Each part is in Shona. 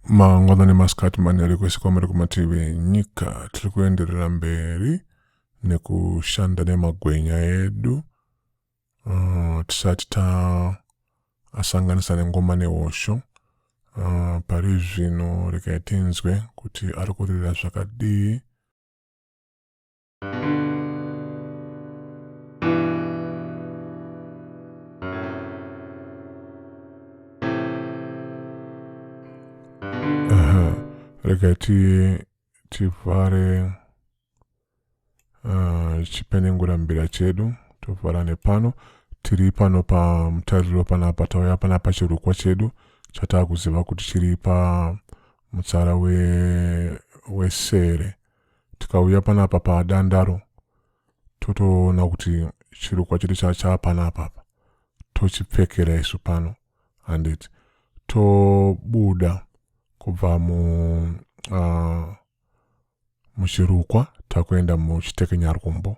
mangwanani masikati manheri kwese kwamuri kumativi enyika tiri kuenderera mberi nekushanda nemagwenya edu uh, tisati taasanganisa nengoma nehosho uh, pari zvino rekai tinzwe kuti ari kurira zvakadii rega tivhare ah, chipenengura mbira chedu tovhara nepano tiri pano pamutariro panapa tauya panapa chirukwa chedu chatakuziva kuti chiri pamutsara wesere we tikauya panapa padandaro totoona kuti chirukwa chedu chachaa panapa apa tochipfekera isu pano handiti tobuda kubva mu uh, muchirukwa takuenda muchitekenyarwumbo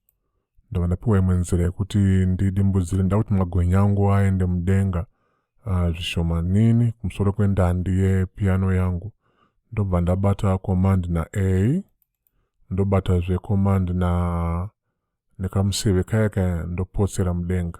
ndava ndapiwa imwe nzira yekuti ndidimbudzire nda kuti magwenya angu aende mudenga ah, zvishomanini kumusoro kwendandi yepiyano yangu ndobva ndabata command na a ndobata zve command na nekamuseve kaya kaya ndopotsera mudenga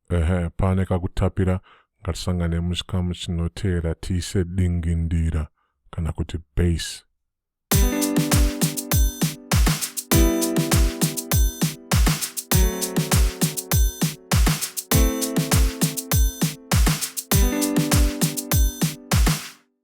ehe pane kakutapira ngatisangane muchikamu chinoteera tiise dingindira kana kuti base